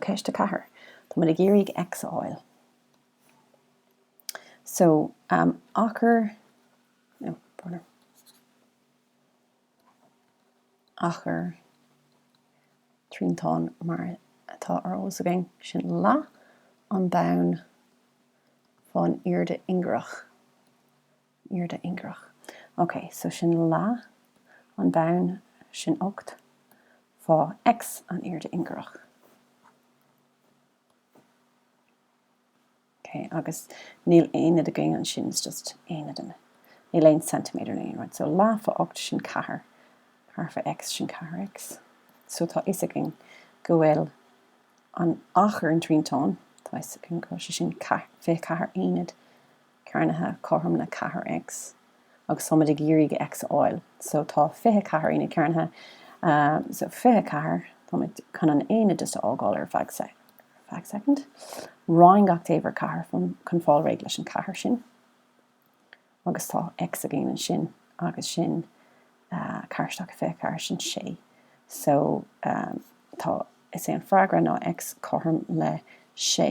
Ceist 4. Tá muid ag iarraidh X a fháil. So, um, achar, no, achar. Achar triantán mar atá ar eolas againn, sin leath an bhoinn fán airde ingearach. airde ingearach. Ok, so sin leath an bhoinn, sin Ocht, fá X an airde ingearach. Ok, agus níl aonad againn ansin, is just aonad an, níl aon centimeter na aon rud. So leath fá Ocht sin Ceathair, Ceathair fá X sin Ceathair X. So tá a fhios againn go bhfuil an achar an triantáin, tá a fhios againn go bhfuil sé sin Ceathair, Fiche Ceathair aonad, cearnaithe cothrom le ceathair X agus táimid ag iarraidh X a fháil so tá fiche ceathair aonad cearnaithe so fiche ceathair táimid chun an aonad just a fhágáil ar feadh sec ar feadh second roinn gach taobh ar ceathair from chun fáil réidh leis an ceathair sin agus tá X againn ansin agus sin uh, ceathair isteach i fiche ceathair sin sé so um, tá is é an freagra ná X cothrom le sé